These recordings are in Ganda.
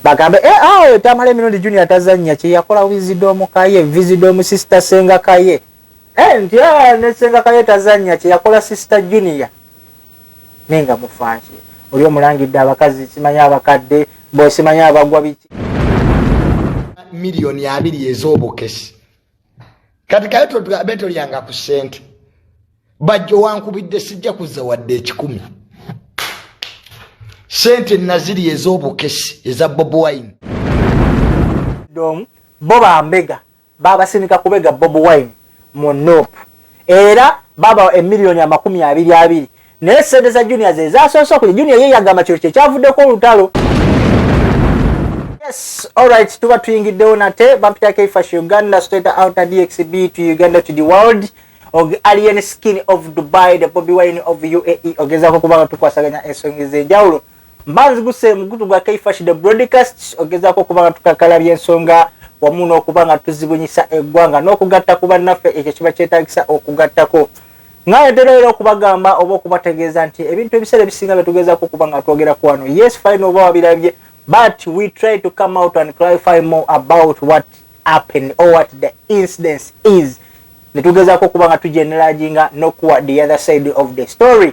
bagambe eh, ah, oyo tamale emirundi junior tazanya kyeyakola vizidomu kaye vizidomu sister senga kaye eh, nti ah, ne senga kaye tazanya kyeyakola sister junior naye nga mufansi oli omulangidde abakazi simanya abakadde bosimanya abagwa biki miliyoni abiri ez'obukesi kati kayo totugambe tolyanga ku sente bajjo wankubidde sijja kuzza wadde ekikumi sente naziri ez'obukesi eza bob wine domu bo bambega babasindika kubega bob wine mu nope era babawa emiliyoni amakumi abiri abiri naye sente za junior ze zasoose okulya junior ye yagamba kino kyekyavuddeko olutalo yes alright tuba tuyingiddewo nate bampita keifash uganda state outer dxb to uganda to the world og alien skin of dubai the bobi wine of uae ogezako kubanga tukwasaganya ensonga ezenjawulo Mbanzi guse mugutu gwa Kaifash the broadcast ogezako kuba nga tukakala byensonga wamu n'okuba nga tuzibunyisa eggwanga n'okugatta ku bannaffe ekyo kiba kyetagisa okugattako ngayetera era okubagamba oba okubategeeza nti ebintu ebiseera ebisinga byetugezako okuba nga twogera ku wano yes fine oba wabirabye but we try to come out and clarify more about what happened or what the incidence is netugezako okuba nga tujeneraginga nokuwa the other side of the story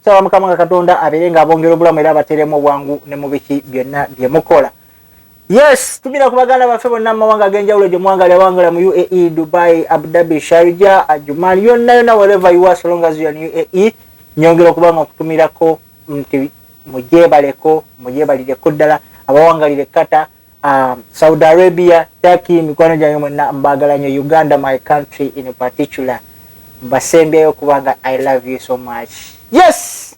nsaba mukama nga katonda abeere nga abongera obulamu era abateremu obwangu ne mubiki byonna bye mukola yes tumira ku baganda baffe bonna mumawanga agenjawulo gye muwangali abawangala mu uae dubai abudhabi sharja ajuman yonna yonna wereva ua solongazian uae nyongera okubanga okutumirako nti mugyebaleko mugyebalireko ddala abawangalire kata Um, Saudi Arabia, Turkey, mikwano gyange mwena mbagala nyo Uganda my country in particular. Mbasembyeyo kubanga I love you so much. Yes!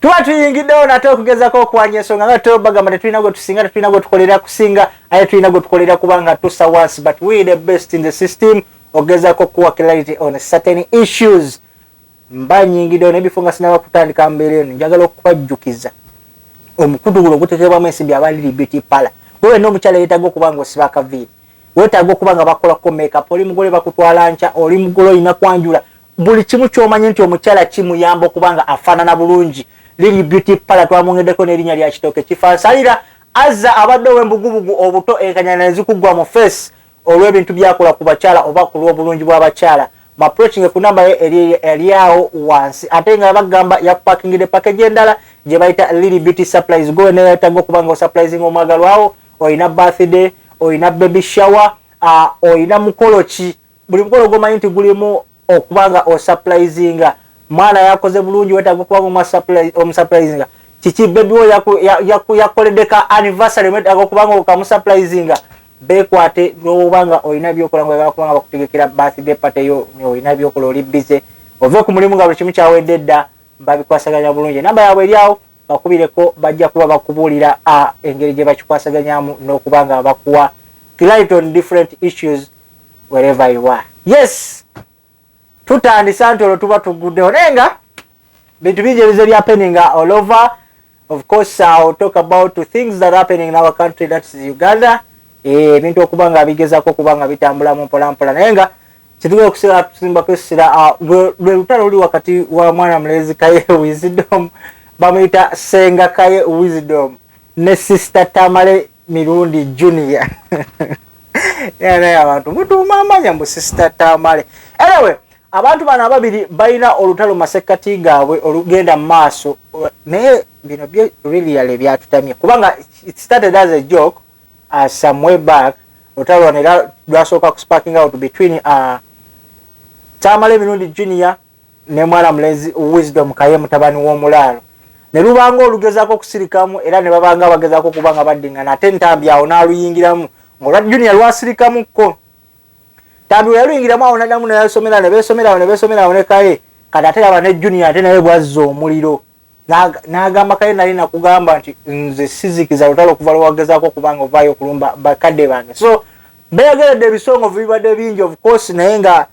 Tuba tuyingiddewo nate okugezako okwanya ensonga nga tutewo bagamba tetulina gwe tusinga tetulina gwe tukolera kusinga aye tulina gwe tukolera kubanga tusa once but we the best in the system ogezako kuwa clarity on certain issues mba nyingidewo nebifo nga sinaba kutandika mbeera eno njagala okubajjukiza omukutu guno oguteteebwamu ensimbi aba lili beauty pala gwe wenna omukyala yetaaga okuba nga osiba akaviiri wetaaga okuba nga bakola ko makeup oli mugole bakutwala nkya oli mugole olina kwanjula buli kimu kyomanye nti omukyala kimuyamba okuba nga afaanana bulungi lili beauty pala twamwongeddeko n'erinnya lya kitooke kifansalira azza abadde ow'embugubugu obuto enkanyana nezikuggwa mu face olw'ebintu byakola ku bakyala oba ku lw'obulungi bw'abakyala mu approachinge ku namba ye eri awo wansi ate nga bagamba yakupakingidde pakeji endala gye bayita lili beauty supplies gowe neyayetaga okuba nga osupprising omwagalwawo olina birthday olina baby shower olina mukolo ki buli mukolo gwomanyi nti gulimu okuba nga osupplizinga mwana yakoze bulungi wetaga okuba nga omusupplizinga kiki bebi wo yakoledde ka anniversary wetaga okuba nga okamusupplizinga bekwate nowoba nga olina byokola nga oyagala kuba nga bakutegekera birthday party yo olina byokola oli bize ove ku mulimu nga buli kimu kyawedde dda babikwasaganya bulungi enamba yabwe eryawo bakubireko bajja kuba bakubuulira engeri gye bakikwasaganyamu n'okuba nga bakuwa client on different issues wherever you are yes tutandise anti olwo tuba tuguddewo naye nga bintu bingi ebize byapeninga all over of course ill talk about things that happening in our country thats uganda eh, ebintu okuba nga bigezako okuba nga bitambula mu mpolampola naye nga kyetugenda okusigala tusimbako essira ah, lwe lutalo luli wakati wa mwana mulezi kaye wisdom bamuyita senga kaye wisdom ne sister tamale mirundi junior naye abantu mutuuma amanya mbu sister tamale anyway abantu bano ababiri balina olutalo masekkati gaabwe olugenda mu maaso naye bino byo reallyale byatutamye kubanga started as a joke uh, some way back olutalo lwano era lwasooka ku sparking out between uh, tamale mirundi junior ne mwana mulezi Wisdom Kaye mutabani w'omulaalo ne luba ng'olugezaako okusirikamu era ne baba nga abagezaako okuba nga baddingana ate Ntambi awo n'aluyingiramu ng'olwa Junior lwasirikamukko. Ntambi bwe yaluyingiramu awo n'addamu ne yasomera ne beesomera awo ne beesomera awo ne Kaye kati ate laba ne Junior ate naye bw'azza omuliro n'agamba Kaye nali nakugamba nti nze sizikiza lutalo okuva lwe wagezaako okuba nga ovaayo okulumba bakadde bange so beeyogeredde ebisongovu bibadde bingi of course naye nga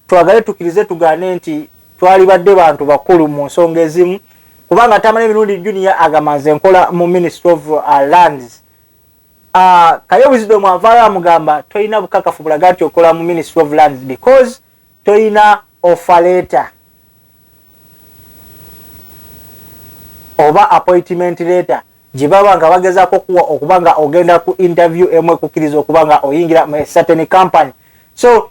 twagale tukirize tugaane nti twalibadde bantu bakulu mu nsonga ezimu kubanga tamala emirundi junior agamanze nkola mu ministry of uh, lands uh, kaye wisdom avaayo amugamba tolina bukakafu bulaga nti okola mu ministry of lands because tolina ofaleta oba appointment leta gyebaba nga bagezako kuwa okuba nga ogenda ku interview emu ekukiriza okuba nga oyingira mu certain company so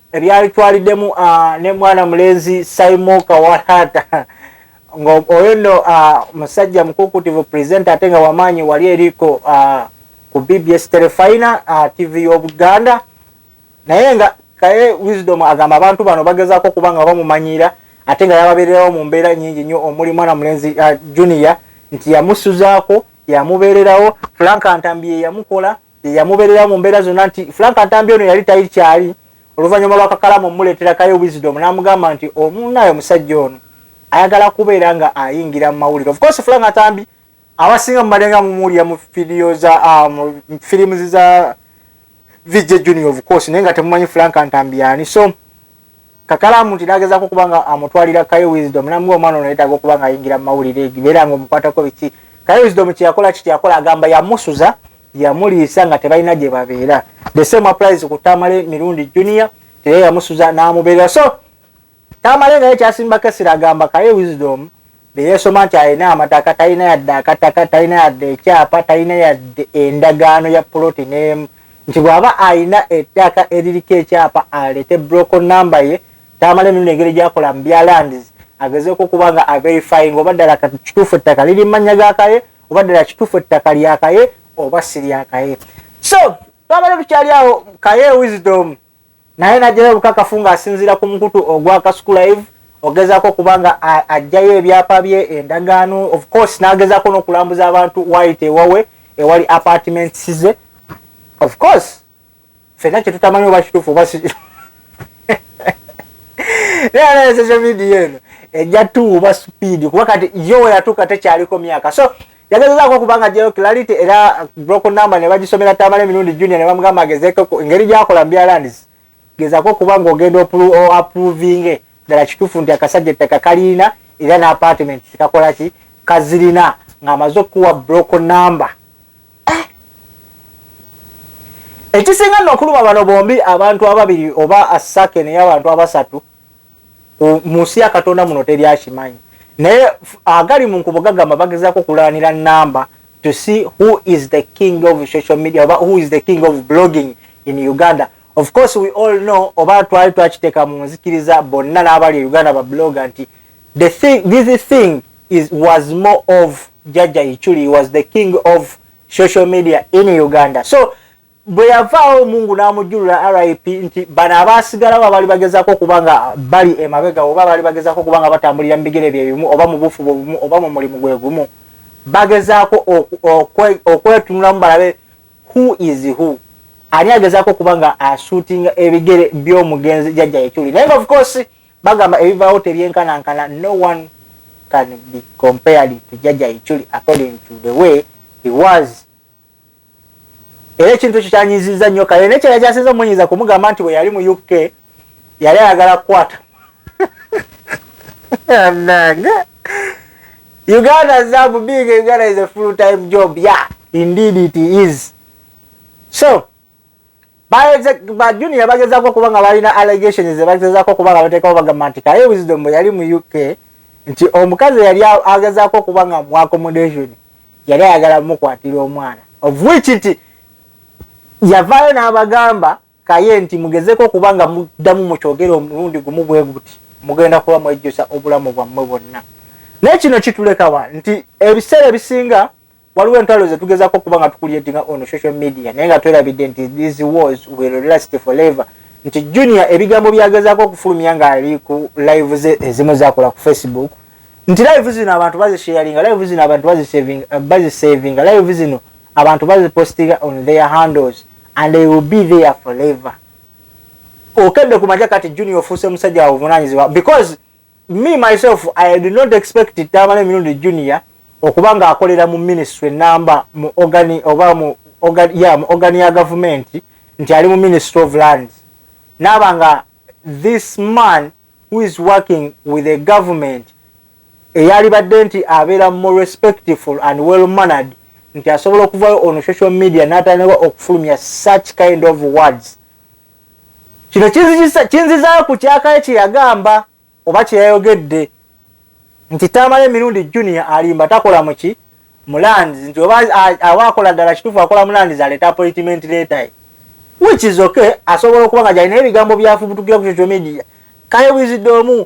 ebyalitwaliddemu ah, ne mwana mulenzi saimo kawalata nga oyo nno ah, musajja mukukutivu presenta ate nga wamaanyi wali eriko ah, ku bbs telefina tv y'obuganda naye nga kaye wisdom agamba abantu bano bagezaako okuba nga bamumanyiira ate nga yababeererawo mu mbeera nyingi nnyo omuli mwana mulenzi junior nti yamusuzaako yamubeererawo frank ntambi yeyamukola yeyamuberera mu mbeera zonna nti frank ntambi ono yali tayiri kyali oluvannyuma lwakakalamu omuleeterakayo wisdom n'amugamba nti omunaye omusajja ono ayagala kubeera nga ayingira mu mawulire ofcourse frank ntambi abasinga mumalenga mumuwulira mu fidiyo za ah, mu firimu za vijja junior ofcourse naye nga temumanyi frank ntambi yani so Kakalamuti n'agezaako okuba nga amutwalira Kaye Wisdom n'amugamba omwana ono yeetaaga okuba nga ayingira mu mawulire egi beera nga omukwatako biki Kaye Wisdom kye yakola ki kye yakola agamba yamusuza yamuliisa nga tebalina gye babeera the same applies ku Tamale Mirundi Junior teye yamusuza n'amubeerera so Tamale nga ye kyasimbako essira agamba Kaye Wisdom neyesoma nti alina amataka talina yadde akataka talina yadde ekyapa talina yadde endagaano ya puloti nemu nti bwaba alina ettaka eririko ekyapa alete broko namba ye tamala emirundi engeri gyakola mu bya lands agezeeko okuba nga averifying oba ddala kituufu ettaka liri mumannya gakaye oba ddala kituufu ettaka lyakaye oba siryakaye so twabadde tukyali awo kaye wisdom naye najjayo obukakafu ng'asinziira ku mukutu ogwa kasuku live ogezaako okuba nga ajjayo ebyapa bye endagaano of course n'agezaako n'okulambuza abantu wayita ewawe ewali apartments ze of course fena kyetutamanyi oba kitufu oba social media eno ejja tuuba speed kuba kati yo weyatuuka tekyaliko myaka so yagezezaako okuba nga gyeyo clarity era broko number ne bagisomera tamala emirundi junior ne bamugamba agezeko engeri gyakola mubyalandis gezako okuba nga ogenda oapproving ddala kituufu nti akasajja ettaka kaliina era ne apartment kakola ki kazirina ng'amaze okukuwa broko number eh! ekisinga nno okuluma bano bombi abantu ababiri oba asake naye abantu abasatu munsi ya katonda muno teri akimanyi naye agali munkubo gagamba bagezako okulalanira namba to see who is the king of social media oba who is the king of blogging in uganda of course we all know oba twali twakiteeka mu nzikiriza bonna n'abali e uganda bablogga nti the thing, this thing is, was more of jaja ichuli was the king of social media in uganda so Bwe yavaawo Mungu n'amujjulula RIP nti bano abaasigalawo abaali bagezaako okuba nga bali emabega oba abaali bagezaako okuba nga batambulira mu bigere bye bimu oba mu buufu bwe bumu oba mu mulimu gwe gumu bagezaako okwetunulamu balabe who is who ani agezaako okuba nga asuutinga ebigere by'omugenzi jajja yekyuli naye nga of course bagamba ebivaawo tebyenkanankana no one can be compared to jajja yekyuli according to the way he was era ekintu ekyo kyanyiizizza nnyo kale naye kyeyali kyasinza omunyiiza kumugamba nti bwe yali mu uk yali ayagala kukwata anange uganda zabu being a uganda is a full time job ya yeah, indeed it is so ba junior bagezako okuba nga balina allegations zebagezako okuba nga batekawo bagamba nti kaye wisdom bwe yali mu uk nti omukazi yali agezako okuba nga mu accommodation yali ayagala mukwatira omwana of which nti yavaayo n'abagamba kaye nti mugezeko okuba nga muddamu mukyogere omulundi gumu bwe guti mugenda kuba mwejjusa obulamu bwammwe bwonna naye kino kitulekawa nti ebiseera ebisinga waliwo entwalo zetugezako okuba nga tukulietinga on social media naye nga twerabidde nti these wars will last forever nti junior ebigambo byagezako okufulumya ngaali ku live ze ezimu zakola ku facebook nti live zino abantu bazisharinga live zino abantu bazisavinga eh, live zino abantu bazipostinga on their handles and they will be there forever okedde kumaja kati junior ofuuse musajja wavunanyizibwa because Me myself I did not expect it Tamale Mirundi Junior okuba nga akolera mu ministry namba mu organi oba mu organ ya mu organi ya government nti ali mu ministry of land naba nga this man who is working with a government eyali badde nti abeera more respectful and well mannered nti asobola okuvayo on social media natandika okufulumya such kind of words Kino kinzizaa ku kyakaye kye yagamba oba kye yayogedde nti Tamale Mirundi Junior alimba takola muki mu lands nti oba aba akola ddala kituufu akola mu lands aleeta appointment leeta ye which is okay asobola okuba nga gyalina ebigambo byafubutukira ku social media kaye bwizidde omu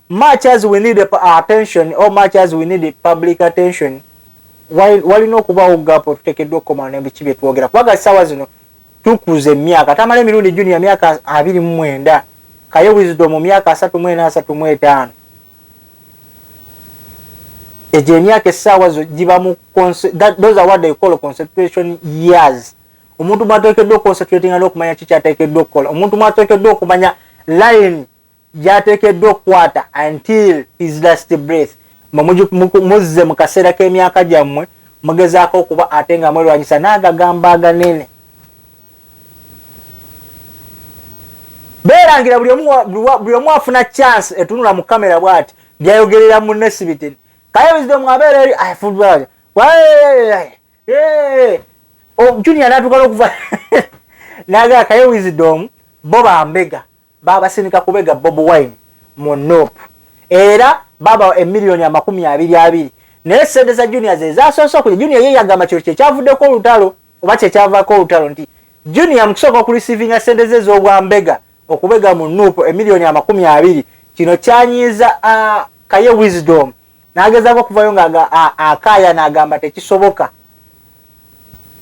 much as we need attention or much as we need public attention walina okubawo gapo tutekeddwa okukomana nebiki byetwogera kubaga sawa zino tukuze myaka tamale mirundi junior myaka abiri mwenda kaye wizido mu myaka asatu mwena asatu mwetano eje myaka esawa zo jiba mu that those are what they call concentration years omuntu mwatekeddwa concentrating alo kumanya chicha tekeddwa kola omuntu mwatekeddwa okumanya line gyateekeddwa okukwata until his last breath muzze mu kaseera k'emyaka gyammwe mugezaako okuba ate nga mwerwanyisa n'agagambo aganene beerangira buli omu afuna chance etunula mu kamera bwati byayogerera munne sibitini kaye wisdom abeera eri afulbaya junior natuuka n'okuva naga kaye wisdom bo bambega Baabasindika kubega Bob Wine mu Nup era baabawa emiliyoni amakumi abiri abiri naye ssente za Junior ze zaasoose okuli Junior ye yagamba kino kye kyavuddeko olutalo oba kye kyavaako olutalo nti Junior mu kusooka okulisiivinga ssente ze z'obwambega okubega mu Nup emiliyoni amakumi abiri kino kyanyiiza Kaye Wisdom n'agezaako okuvayo nga akaaya n'agamba tekisoboka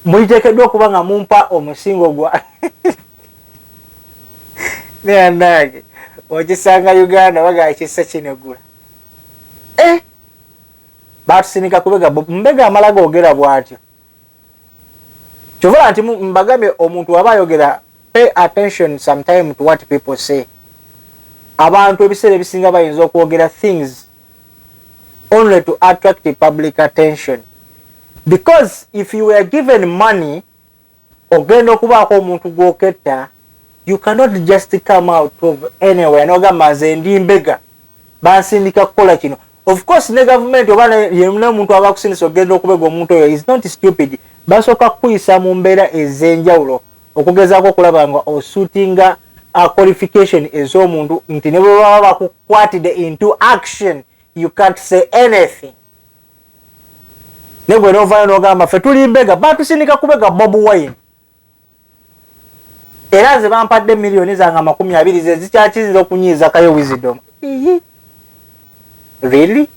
muliteekeddwa okuba nga mumpa omusingo gwa neanange okisanga uganda bagaa kisa kinegula eh! batusinika kubega mbega amala googera bwatyo kyovala nti mbagambye omuntu waba ayogera pay attention sometime to what people say abantu ebiseera ebisinga bayinza okwogera things only to attract public attention because if you were given money ogenda okubaako omuntu gwoketta you cannot just come out of anywhere nogamba nze ndi mbega bansindika kukola kino of course ne government oba yemuna omuntu aba kusindisa okugenda okubega omuntu oyo is not stupid basooka kukuyisa mu mbeera ez'enjawulo okugezaako okulaba nga osutinga uh, qualification ez'omuntu nti ne bwebaba bakukwatide into action you can't say anything negwe novayo nogamba fe tuli mbega batusindika kubega bob wine era nze bampadde miliyoni zange amakumi abiri ze zikyakiziza okunyiizakayo wisdom really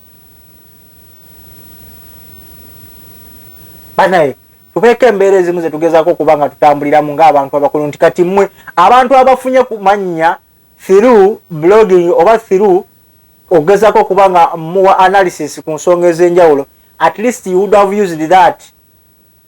banaye tubeeko embeera ezimu zetugezako okuba nga tutambuliramu ngaabantu abakulu nti kati mmwe abantu abafunye ku mannya thiru blogging oba thiru okugezako okuba nga muwa analysis ku nsonga ez'enjawulo at least you would have used that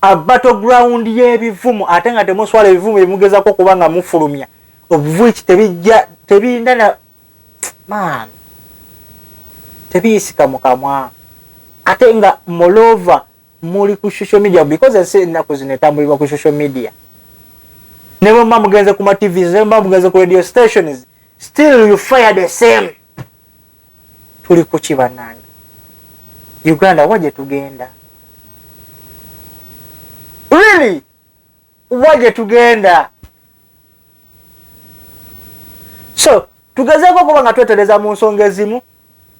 a battle ground y'ebivumu ate nga temuswala ebivumu byemugezako okuba nga mufulumya obuvuiki tebijja tebinda na man tebiyisika mu kamwa ate nga molova muli ku social media because ensi ennaku zino etambulibwa ku social media ne bwe muba mugenze ku ma tvs ne bwe muba mugenze ku radio stations still you fire the same tuli kuki banange uganda wa gyetugenda really wa gyetugenda so tugezeeko okuba nga twetereza mu nsonga ezimu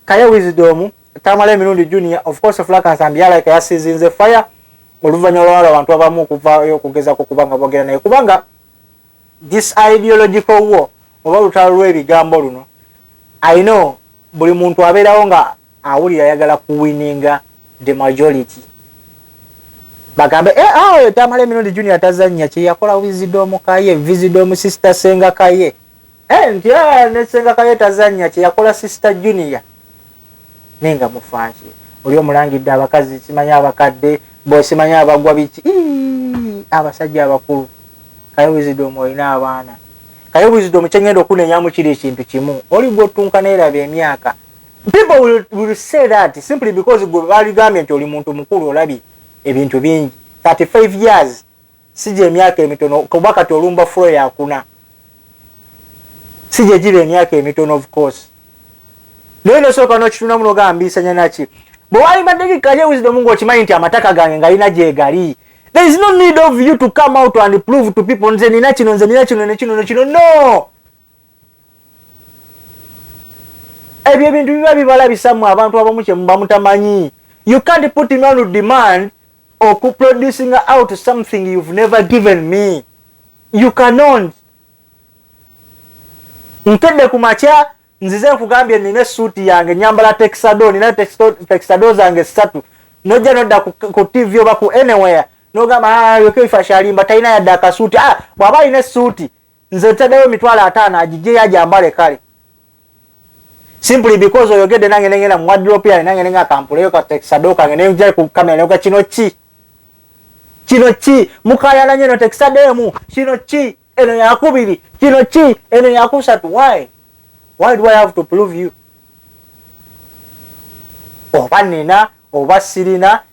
kaye wisdom tamala emirundi junior of course flakansambi yalaika yasizinze fire oluvanyuma lwawala abantu abamu okuvayo okugezako kubanga bogera naye kubanga This ideological war oba lutalo lwebigambo luno I know buli muntu aberawo nga awulira ayagala kuwininga the majority bagambe eh, ah, oyo tamale emirundi juni atazanya kyeyakola vizidomu kaye vizidomu sister senga kaye eh, nti ah, ne senga kaye tazanya kyeyakola sister junior Naye nga mufaaki oli omulangidde abakazi simanyi abakadde bo simanyi abagwa biki iiii abasajja abakulu kaye wisdom olina abaana kaye wisdom kyengenda okunenyamu kiri ekintu kimu oli gwottunka neraba emyaka people will, will say that simply because gwe baligambye nti oli muntu mukulu olabye ebintu bingi 35 years si gyemyaka emitono kuba kati olumba fulo yakuna si gyegiba emyaka emitono of course naye nosooka nokitunamu nogambiisanya naki bwe walibaddeki kaye wisdom ngaokimanyi nti amataka gange ngalina gyegali there is no need of you to come out and prove to people nze nina kino nze nina kino nekino nekino no ebyo ebintu biba bibalabisamu abantu abamu kyemuba mutamanyi you can't put me on demand oku producing out something you've never given me you cannot nkedde ku makya nzize nkugambye nina esuuti yange nyambala texado nina texado zange ssatu nojja nodda ku tv oba ku anywhere nogamba ah, yokeifashalimba talina yadde akasuuti ah, bwaba alina esuuti nze ntedewo emitwalo ataano agijeyo ajambale kale simply because oyogedde nange nengenda mu wadrop yange nange nenga kampuleyo katekisado kange nenja ku kamera neyoga kino ki kino ki mukayana nyo notekisado emu kino ki eno yakubiri kino ki eno yakusatu why why do i have to prove you oba nina oba sirina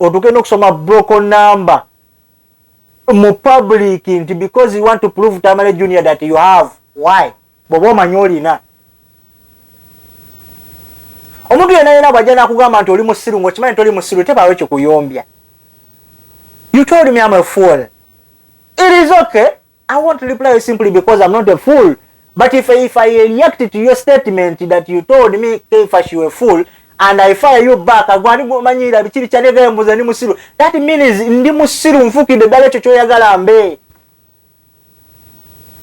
otuke nokusoma broken number mu public nti because you want to prove tamale junior that you have why bwoba omanyi olina omuntu yena yena bwajja nakugamba nti oli musiru ngaokimanyi toli musiru tebaawo kikuyombya you told me am a fool it is okay I won't reply you simply because I'm not a fool. But if, if I react to your statement that you told me Kefa she a fool and I fire you back agwani gumanyira bichiri chane gaya mbuza ni musiru that means ndi musiru mfuki de dale chocho ya galambe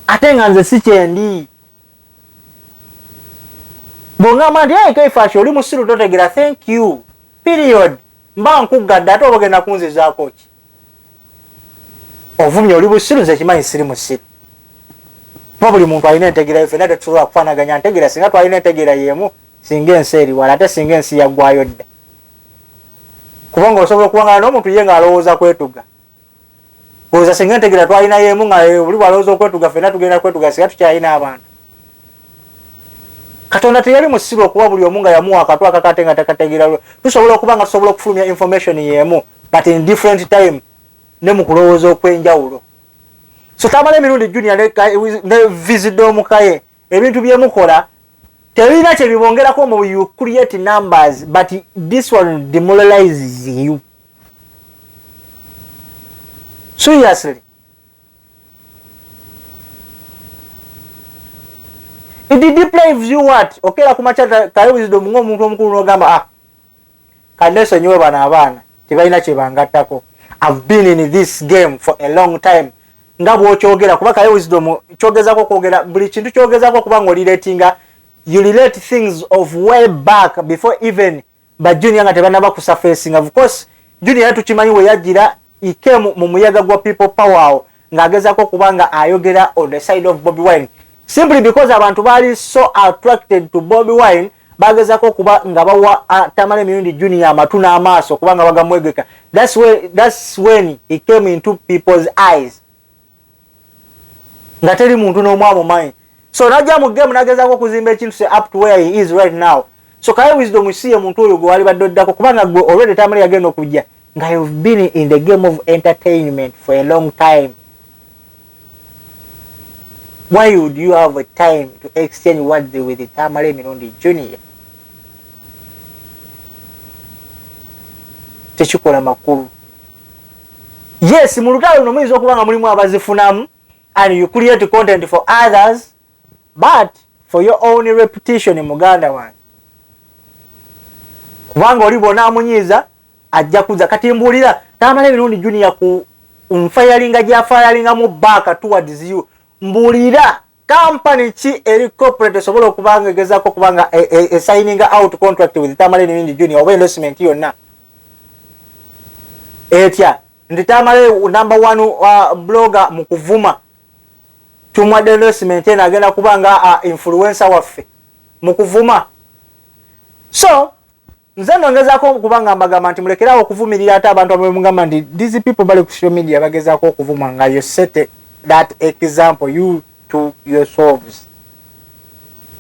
atenga nze si chendi bonga mandi ya Kefa she oli musiru totegera thank you period mba nkugada ato wogena kunzi za kochi ovumye oli busiru nze kimanyi siri musiru kuba buli muntu alina entegera yo fena tetusobola kufanaganya ntegera singa twalina entegera yemu singa ensi eriwala ate singa ensi yaggwayo dda kubanga osobola okuwangana n'omuntu ye ng'alowooza kwetuga oza singa entegera twalina yemu nga eh, buli bwalowooza okwetuga fena tugenda kwetuga singa tukyalina abantu katonda teyali musiru okuba buli omu nga yamuwa akatwakakate nga takategera tusobola okuba nga tusobola okufulumya information yemu but in different time ne mu kulowooza okw'enjawulo so tamala emirundi junior ne visida omukaye ebintu byemukola tebirina kyebibongerako mu you create numbers but this one demoralizes you seriously it deprives you what okera kumaca kaye wisdom ng'omuntu omukulu n'ogamba ah kanesonyiwe bano abaana tebalina kyebangattako I've been in this game for a long time nga bwokyogera kuba kaye wisdom kyogezako okwogera buli kintu kyogezako kuba nga oliretinga you relate things of way back before even ba junior nga tebanaba kusafesinga of course junior tukimanyi weyajira he came mu muyaga gwa people power awo ng'agezaako okuba nga ayogera on the side of bobi wine simply because abantu baali so attracted to bobi wine bagezako okuba nga bawa tamale mirundi junior amatu n'amaaso kuba nga bagamwegeka thats when he came into people's eyes nga teri muntu n'omu amumanyi so najja mu game nagezaako okuzimba ekintu se up to where he is right now so kaye wisdom isiye muntu oyo gwe walibadde oddako kubanga gwe already tamale yagenda okujja nga you've been in the game of entertainment for a long time why would you have a time to exchange words with tamale mirundi junior tekikola makulu yes mu lutalo luno muyinza okuba nga mulimu abazifunamu and you create content for others but for your own repetition muganda wange kubanga oli bona amunyiiza ajja kuza kati mbuulira tamala emirundi junior ku nfayalinga gyafayalinga mu baaka towards you mbuulira Company ki eri corporate esobola okuba nga egezaako okuba nga e, e, e signing out contract with Tamale Nibindi Junior oba endorsement yonna etya nti Tamale number one uh, blogger mu kuvuma tumwadde endorsement eno agenda kuba nga uh, influencer waffe mu kuvuma so nze no ngezako kuba nga mbagamba nti mulekerawo okuvumirira ate abantu abwe mugamba nti these people bali ku social media bagezako okuvuma nga you set that example you to yourselves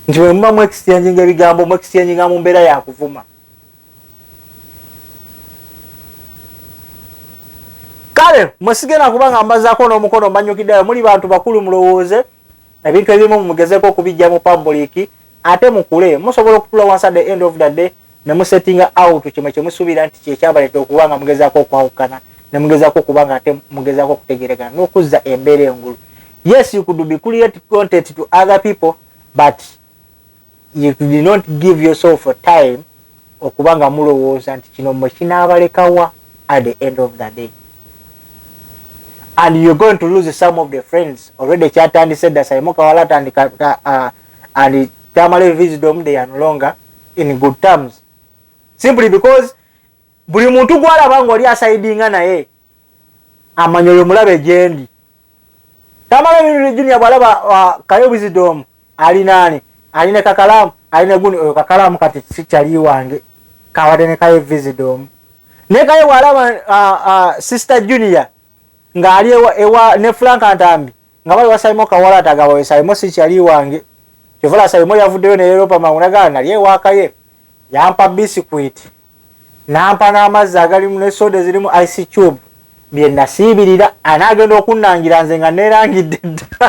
nti bwe muba mu exchanginga ebigambo mu exchanginga mu mbeera ya kuvuma kale mwesigenda kuba nga mbazako n'omukono mbanyukiddeyo muli bantu bakulu mulowooze ebintu ebimu mumugezeko okubijja mu pabuliki Ate mukule musobola okutula wansi at the end of the day ne musettinga out kino kye musuubira nti kye kyabaleta okuba nga mugezaako okwawukana ne mugezaako okuba nga ate mugezaako okutegeregana n'okuzza embeera engulu. Yes you could be create content to other people but you did not give yourself a time okuba nga mulowooza nti kino mwe kinaabalekawa at the end of the day and you're going to lose some of the friends already kyatandise dda saimo kawala atandika uh, and tamale wisdom they are no longer in good terms simply because buli muntu gwalaba nga oli asaidinga naye amanya oyo mulabe gyendi tamale bintu junia bwalaba uh, kayo wisdom ali nani ali ne kakalamu ali ne guni oyo kakalamu kati sikyali wange kawade ne kayo wisdom ne kayo bwalaba uh, uh, sister junior nga ali ewa, ewa ne frank antambi nga bali wasalimo kawala tagaba we salimo si chali wange chovola salimo yavudeyo ne Europa mauna gana nali ewaka ye yampa biscuit nampa na amazi agali mu soda ziri mu ice cube bye nasibirira anagenda okunangira nze nga nerangidde dda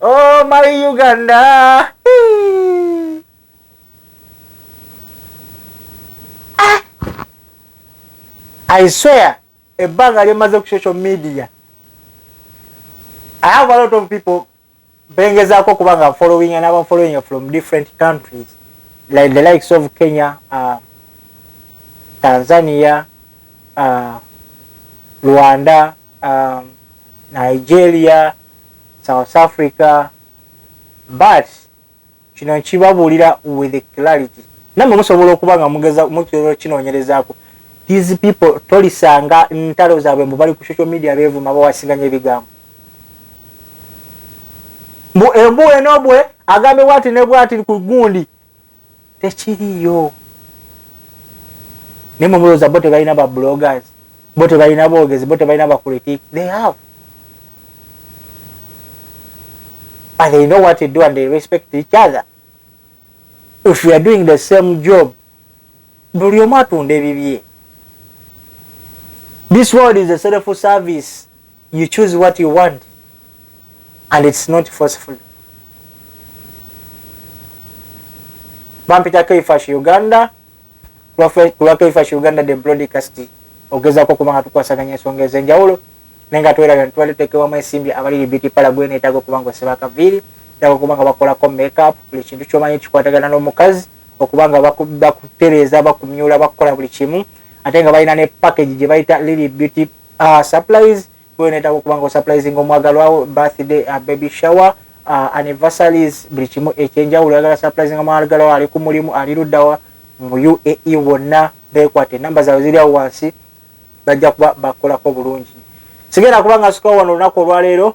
oh my Uganda ah! I swear ebbanga lyemaze ku social media I have a lot of people bengezaako okuba nga following and aba following from different countries like the likes of Kenya uh, Tanzania uh, Rwanda uh, Nigeria South Africa but Kino nkibabuulira with clarity. Namwe musobola okuba nga mugeza mukirolo kinoonyerezaako. These people tolisanga ntalo zaabwe mbu bali ku social media beevuma bawasinganya ebigambo. Mbu embu eno bwe agambibwa nti ne bwati ku gundi. tekiriyo naye mumulooza bo tebalina ba bloggers bo tebalina boogezi bo tebalina ba critic they have but they know what to do and they respect each other if you are doing the same job buli omu atunda ebibye this world is a self service you choose what you want and it's not forceful bampita kaifash uganda kulwa kaifash uganda the broadcast ogezako kuba nga tukwasaganya ensonga ezenjawulo naye nga tweraga nitwali tutekewamu ensimbi abaliri biti pala gwe neetaga okuba nga oseba akaviiri eetaga okuba nga bakolako makeup buli kintu kyomanyi kikwatagana n'omukazi okuba nga bakutereeza bakumyula bakukola buli kimu ate nga balina ne package gye bayita liri beauty Uh, supplies gwe netaka okuba nga osupplisinga omwagalwawo birthday uh, baby shower uh, anniversaries buli kimu ekyenjawulo yagala supplisinga omwagalwawo ali ku mulimu ali luddawa mu uae wonna bekwate namba zaabwe ziri awo wansi bajja kuba bakolako bulungi sigenda kuba nga sukawano olunaku olwaleero